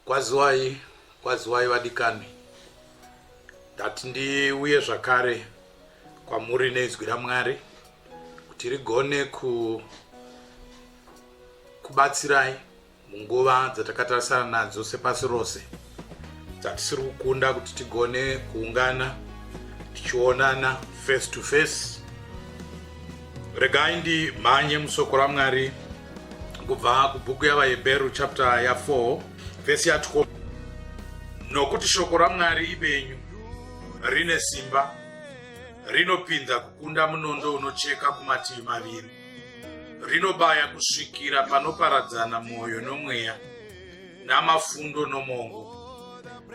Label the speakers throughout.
Speaker 1: Kwaziwai, kwaziwai vadikani. Ndati ndiuye zvakare kwamuri neizwi raMwari kuti rigone ku kubatsirai munguva dzatakatarisana nadzo sepasi rose dzatisiri kukunda kuti tigone kuungana tichionana face to face regai ndimhanye musoko ramwari kubva kubhuku yavahebheru chapter ya 4 vhesi ya 12 nokuti shoko ramwari ibenyu rine simba rinopinza kukunda munondo unocheka kumativi maviri rinobaya kusvikira panoparadzana mwoyo nomweya namafundo nomongo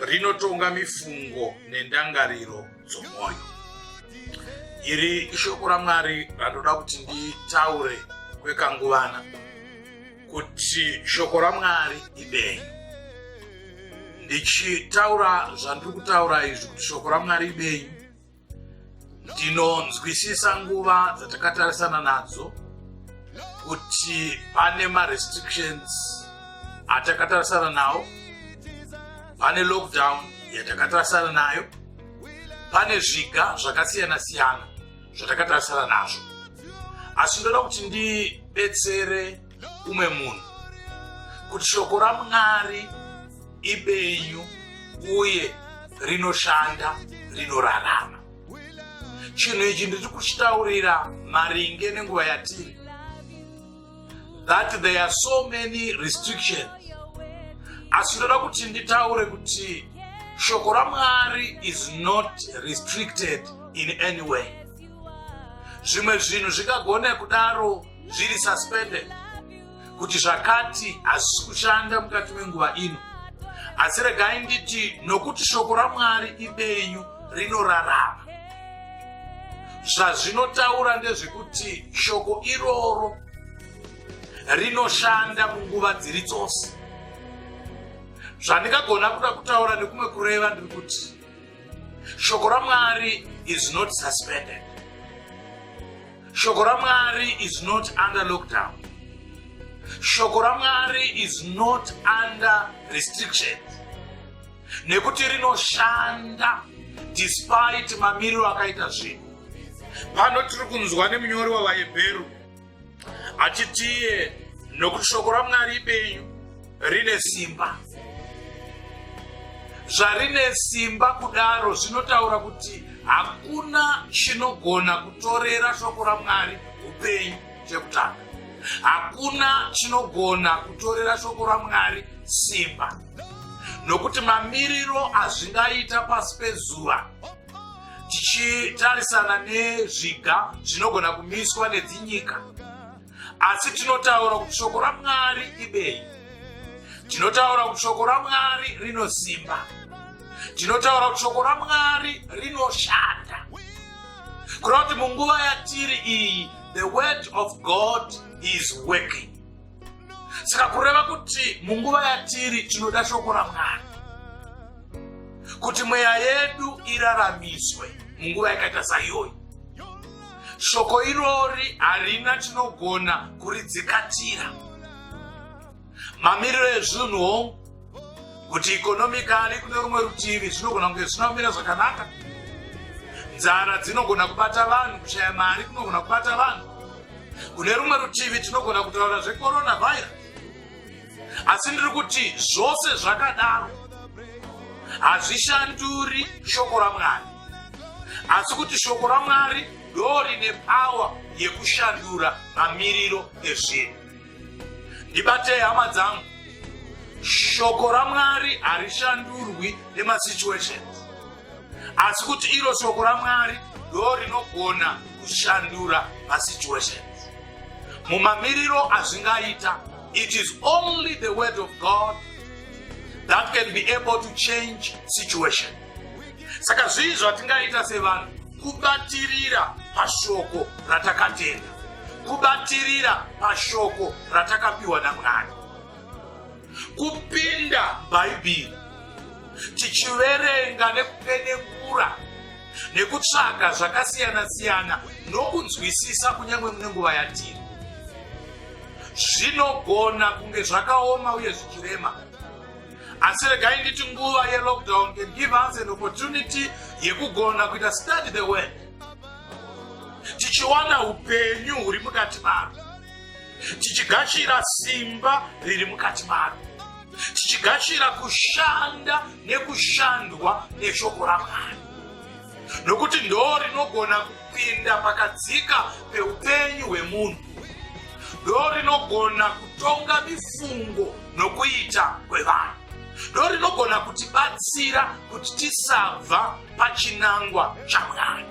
Speaker 1: rinotonga mifungo nendangariro dzomwoyo iri ishoko ramwari randoda kuti nditaure kwekanguvana kuti shoko ramwari ibenyu ndichitaura zvandiri kutaura izvi kuti shoko ramwari ibenyu ndinonzwisisa nguva dzatakatarisana nadzo kuti pane marestrictions atakatarisana nawo pane lockdown yatakatarisana nayo pane zviga zvakasiyana siyana zvatakatarisana nazvo asi ndoda kuti ndibetsere umwe munhu kuti shoko ramwari ibenyu uye rinoshanda rinorarama chinhu ichi ndiri kuchitaurira maringe nenguva yatiri that there are so many restrictions asi ndoda kuti nditaure kuti shoko ramwari is not restricted in any way zvimwe zvinhu zvingagona kudaro zviri suspended kuti zvakati hazvisi kushanda mukati menguva ino asi regai nditi nokuti shoko ramwari ibenyu rinorarama zvazvinotaura ndezvekuti shoko iroro rinoshanda munguva dziri dzose zvandingagona kuda kutaura nekumwe kureva ndiri kuti shoko ramwari is not suspended shoko ramwari is not under lockdown shoko ramwari is not under restrictions nekuti rinoshanda despite mamiriro akaita zvinhu pano tiri kunzwa nemunyori wavahebheru achitiye nokuti shoko ramwari ibenyu rine simba zvarine simba kudaro zvinotaura kuti hakuna chinogona kutorera shoko ramwari upenyu chekutanga hakuna chinogona kutorera shoko ramwari simba nokuti mamiriro azvingaita pasi pezuva tichitarisana nezviga zvinogona kumiswa nedzinyika asi tinotaura kuti shoko ramwari ibenyu tinotaura kuti shoko ramwari rinosimba tinotaura kuti shoko ramwari rinoshanda kureva kuti munguva yatiri iyi the word of god is working saka kureva kuti munguva yatiri tinoda shoko ramwari kuti mweya yedu iraramiswe munguva yakaita saiyoyi shoko irori harina tinogona kuridzikatira mamiriro ezvinhu hongu kuti ikonomikali kune rumwe rutivi zvinogona kunge zvisina kumira zvakanaka nzara dzinogona kubata vanhu kushaya mari kunogona kubata vanhu kune rumwe rutivi tinogona kutaura zvekorona virus asi ndiri kuti zvose zvakadaro hazvishanduri shoko ramwari asi kuti shoko ramwari ndo rine pawa yekushandura mamiriro ezvinhu ndibatei hama dzangu shoko ramwari harishandurwi nemasituations asi kuti iro shoko ramwari ndo rinogona kushandura masituations mumamiriro azvingaita it is only the word of god that can be able to change situations saka zvii zvatingaita sevanhu kubatirira pashoko ratakatenda kubatirira pashoko ratakapiwa namwari kupinda bhaibheri tichiverenga nekupenengura nekutsvaga zvakasiyana-siyana nokunzwisisa kunyange mune nguva yatiri zvinogona kunge zvakaoma uye zvichirema asi regai nditi nguva yelockdown can give us an opportunity yekugona kuita study the word tichiwana upenyu huri mukati maro tichigashira simba riri mukati maro tichigashira kushanda nekushandwa neshoko ramwari nokuti ndoo rinogona kupinda pakadzika peupenyu hwemunhu ndoo rinogona kutonga mifungo nokuita kwevanhu ndoo rinogona kutibatsira kuti tisabva pachinangwa chamwari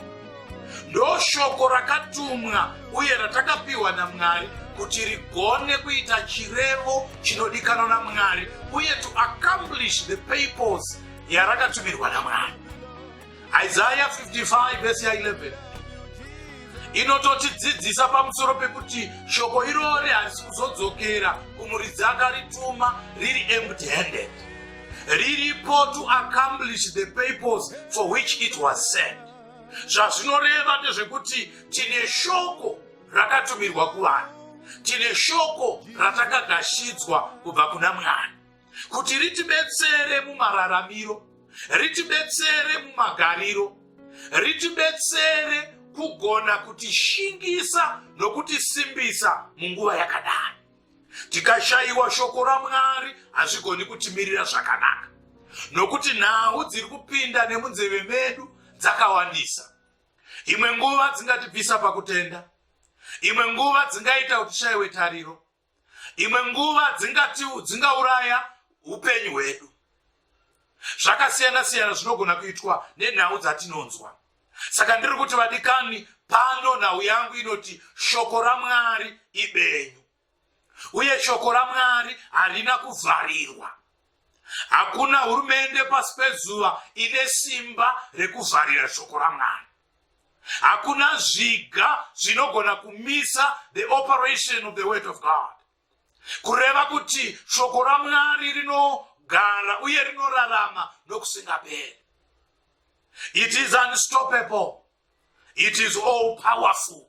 Speaker 1: ndoo shoko rakatumwa uye ratakapiwa namwari kuti rigone kuita chirevo chinodikanwa namwari uye to accomplish the papers yarakatumirwa namwari Isaiah 55 verse 11 inototidzidzisa pamusoro pekuti shoko irori harisi kuzodzokera kumuridzi akarituma riri empty handed riripo to accomplish the purpose for which it was sent zvazvinoreva ndezvekuti tine shoko rakatumirwa kuvanhu tine shoko ratakagashidzwa kubva kuna mwari kuti ritibetsere mumararamiro ritibetsere mumagariro ritibetsere kugona kutishingisa nokutisimbisa munguva yakadai tikashayiwa shoko ramwari hazvigoni kutimirira zvakanaka nokuti nhau dziri kupinda nemunzeve medu dzakawandisa imwe nguva dzingatibvisa pakutenda imwe nguva dzingaita kuti tishayiwe tariro imwe nguva dzingati dzingauraya upenyu hwedu zvakasiyana siyana zvinogona kuitwa nenhau dzatinonzwa saka ndiri kuti vadikani pano nhau yangu inoti shoko ramwari ibenyu uye shoko ramwari harina kuvharirwa hakuna hurumende pasi pezuva ine simba rekuvharira shoko ramwari hakuna zviga zvinogona kumisa the operation of the word of god kureva kuti shoko ramwari rinogara uye rinorarama nokusingaperi it is unstoppable it is all powerful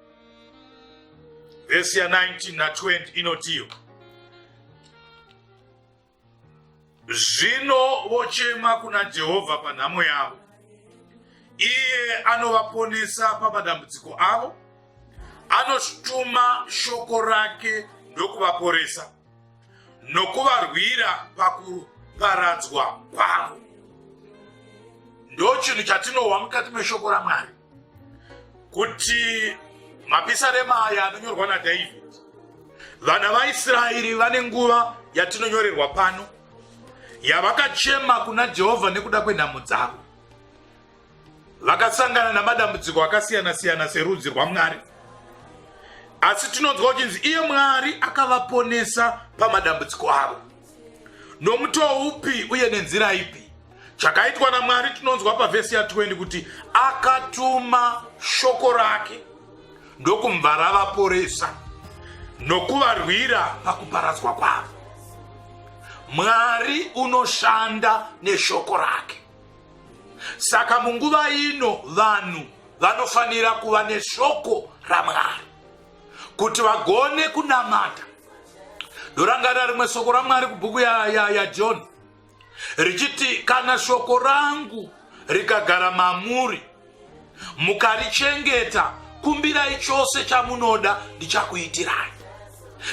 Speaker 1: vhesi ya 19 na 20 inotiyo zvino vochema kuna jehovha panhamo yavo iye anovaponesa pamadambudziko avo anotuma shoko rake ndokuvaporesa nokuvarwira pakuparadzwa kwavo ndochinhu chatinohwa mukati meshoko ramwari kuti mapisarema aya anonyorwa nadhavhidhi vana vaisraeri vane nguva yatinonyorerwa pano yavakachema kuna jehovha nekuda kwenhamo dzavo vakasangana namadambudziko akasiyana siyana serudzi rwamwari asi tinonzwa kuchinzi iye mwari akavaponesa pamadambudziko avo nomutoo upi uye nenzira ipi chakaitwa namwari tinonzwa pavhesi ya20 kuti akatuma shoko rake ndokumva ravaporesa nokuvarwira pakuparadzwa kwavo mwari unoshanda neshoko rake Saka munguva ino vanhu vanofanira kuva neshoko raMwari kuti vagone kunamata. Ndorangarira rimwe soko raMwari kubhuku yaJohn ya, ya richiti kana shoko rangu rikagara mamuri mukarichengeta kumbirai chose chamunoda ndichakuitirai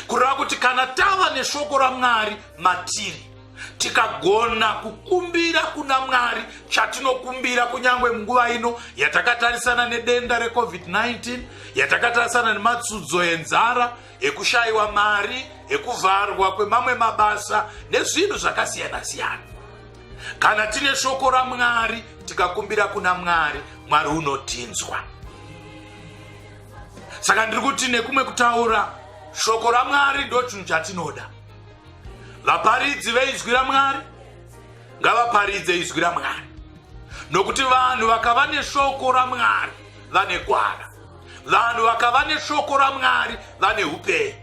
Speaker 1: kureva kuti kana tava neshoko ramwari matiri tikagona kukumbira kuna mwari chatinokumbira kunyange munguva ino yatakatarisana nedenda recovid-19 yatakatarisana nematsudzo enzara ekushayiwa mari ekuvharwa kwemamwe mabasa nezvinhu zvakasiyana-siyana kana tine shoko ramwari tikakumbira kuna mwari mwari unotinzwa saka ndiri kuti nekumwe kutaura shoko ramwari ndo chinhu chatinoda vaparidzi veizwi ramwari ngavaparidze izwi ramwari nokuti vanhu vakava neshoko ramwari vane gwara vanhu vakava neshoko ramwari vane upenyu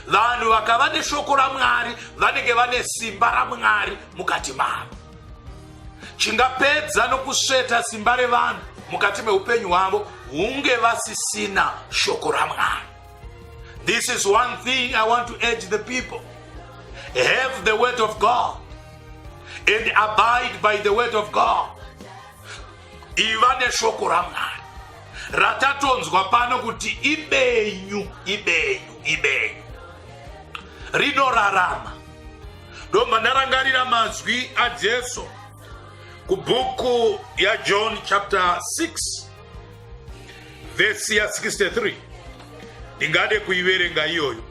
Speaker 1: vanhu vakava neshoko ramwari vanenge vane simba ramwari mukati mavo chingapedza nokusveta simba revanhu mukati meupenyu hwavo hunge vasisina shoko ramwari this is one thing i want to urge the people have the word of god and abide by the word of god iva neshoko ramwari ratatonzwa pano kuti ibenyu ibenyu ibenyu rinorarama ndomba ndarangarira mazwi ajesu kubhuku yajohn chapter 6 vhesi ya 63 ndingade kuiverenga iyoyo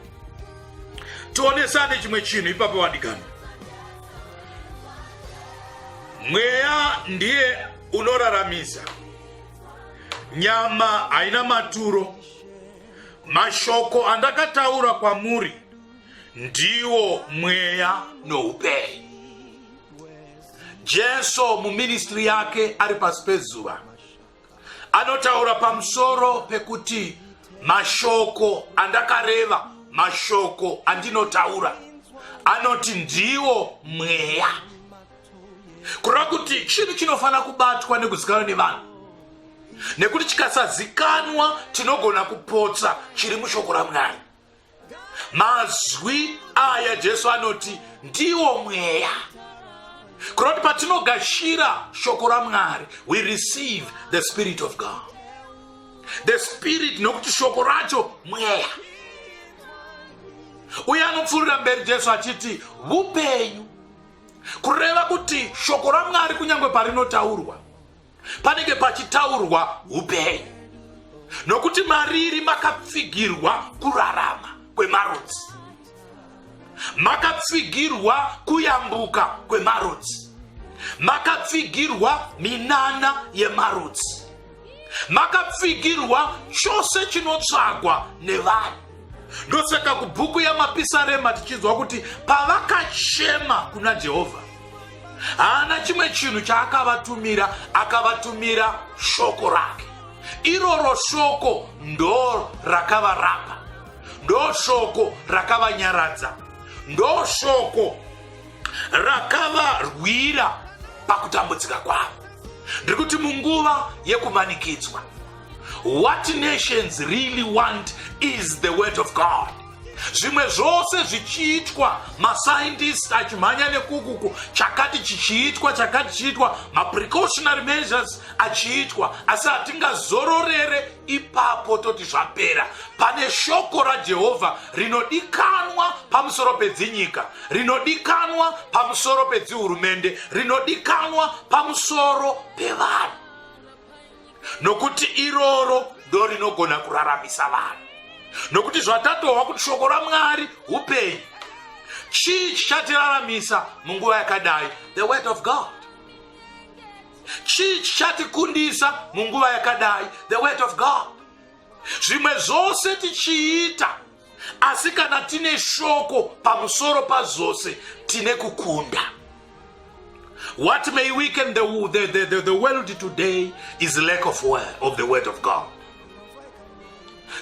Speaker 1: tionesane chimwe chinhu ipapo vandiganwa Mweya ndiye unoraramisa. Nyama haina maturo. Mashoko andakataura kwamuri ndiwo mweya noupenyu. Jesu muministry yake ari pasi pezuva anotaura pamusoro pekuti mashoko andakareva mashoko andinotaura anoti ndiwo mweya kureva kuti chinhu chinofanira kubatwa nekuzikanwa nevanhu nekuti chikasazikanwa tinogona kupotsa chiri mushoko ramwari mazwi aya jesu anoti ndiwo mweya kureva kuti patinogashira shoko ramwari we receive the spirit of god the spirit nokuti shoko racho mweya uye anopfuurira mberi jesu achiti vupenyu kureva kuti shoko ramwari kunyange parinotaurwa panenge pachitaurwa upenyu nokuti mariri makapfigirwa kurarama kwemarudzi makapfigirwa kuyambuka kwemarudzi makapfigirwa minana yemarudzi makapfigirwa chose chinotsvagwa nevanhu ndosaka kubhuku yamapisarema tichinzwa kuti pavakachema kuna jehovha haana chimwe chinhu chaakavatumira akavatumira shoko rake iroro shoko ndo rakavarapa ndo shoko rakavanyaradza ndo shoko rakavarwira pakutambudzika kwavo ndiri kuti munguva yekumanikidzwa what nations really want is the word of god zvimwe zvose zvichiitwa mascientist achimhanya nekukuku chakati chichiitwa chakati chichiitwa maprecautionary measures achiitwa asi hatingazororere ipapo toti zvapera pane shoko rajehovha rinodikanwa pamusoro pedzinyika rinodikanwa pamusoro pedzihurumende rinodikanwa pamusoro pevanhu nokuti iroro ndo rinogona kuraramisa vanhu nokuti zvatatohwa kuti shoko ramwari upenyu chii chichatilalamisa munguva yakadai the word of god chii chichatikundisa munguva yakadai the word of god zvimwe zvose tichiita asi kana tine shoko pamusoro pazvose tine kukunda what may weaken the, the, the, the, the world today is lack of, word, of the word of god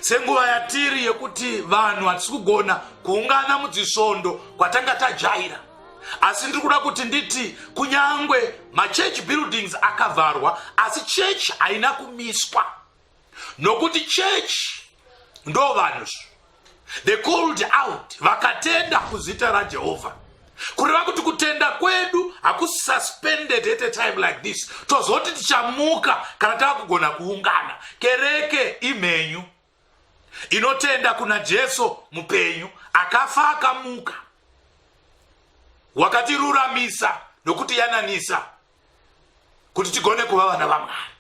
Speaker 1: senguva yatiri yekuti vanhu hatisi kugona kuungana mudzisvondo kwatanga tajaira asi ndiri kuda kuti nditi kunyange machurch buildings akavharwa asi church haina kumiswa nokuti church ndo vanhu the called out vakatenda kuzita rajehovha kureva kuti kutenda kwedu hakususpended at a time like this tozoti tichamuka kana takugona kuungana kereke imhenyu inotenda kuna jesu mupenyu akafa akamuka wakatiruramisa nokuti yananisa kuti tigone kuva vana vamwari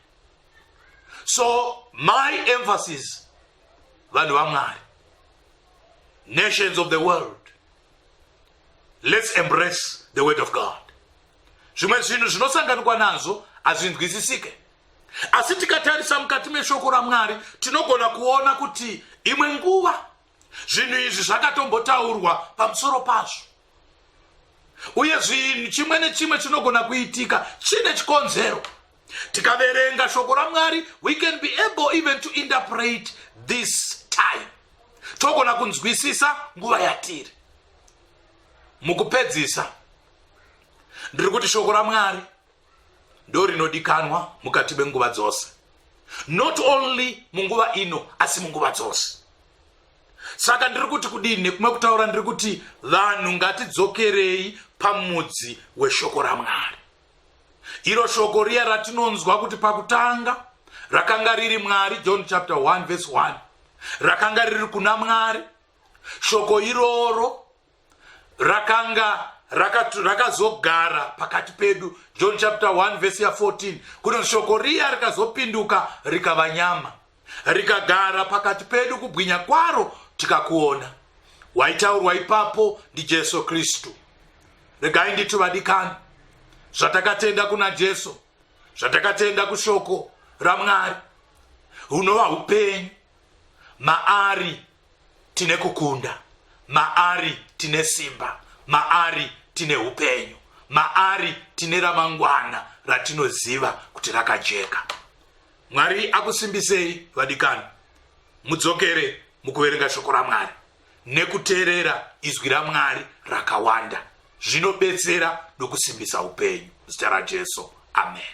Speaker 1: so my emphasis vanhu vamwari nations of the world let's embrace the word of god zvimwe zvinhu zvinosanganikwa nazvo hazvinzwisisike asi tikatarisa mukati meshoko ramwari tinogona kuona kuti imwe nguva zvinhu izvi zvakatombotaurwa pamusoro pazvo uye zvinhu chimwe nechimwe chinogona kuitika chine chikonzero tikaverenga shoko ramwari we can be able even to interpret this time togona kunzwisisa nguva yatiri mukupedzisa ndiri kuti shoko ramwari ndorinodikanwa mukati menguva dzose not only munguva ino asi munguva dzose saka ndiri kuti kudii nekumwe kutaura ndiri kuti vanhu ngatidzokerei pamudzi weshoko ramwari iro shoko riya ratinonzwa kuti pakutanga rakanga riri mwari john chapter 1 vese 1 rakanga riri kuna mwari shoko iroro rakanga rakazogara raka pakati pedu john chapter 1 vhesi ya14 kuno shoko riya rikazopinduka rikava nyama rikagara pakati pedu kubwinya kwaro tikakuona waitaurwa ipapo ndijesu kristu regai nditi vadikani zvatakatenda kuna jesu zvatakatenda kushoko ramwari hunova upenyu maari tine kukunda maari tine simba maari tine upenyu maari tine ramangwana ratinoziva kuti rakajeka mwari akusimbisei vadikani mudzokere mukuverenga shoko ramwari nekuteerera izwi ramwari rakawanda zvinobetsera nokusimbisa upenyu zita rajesu amen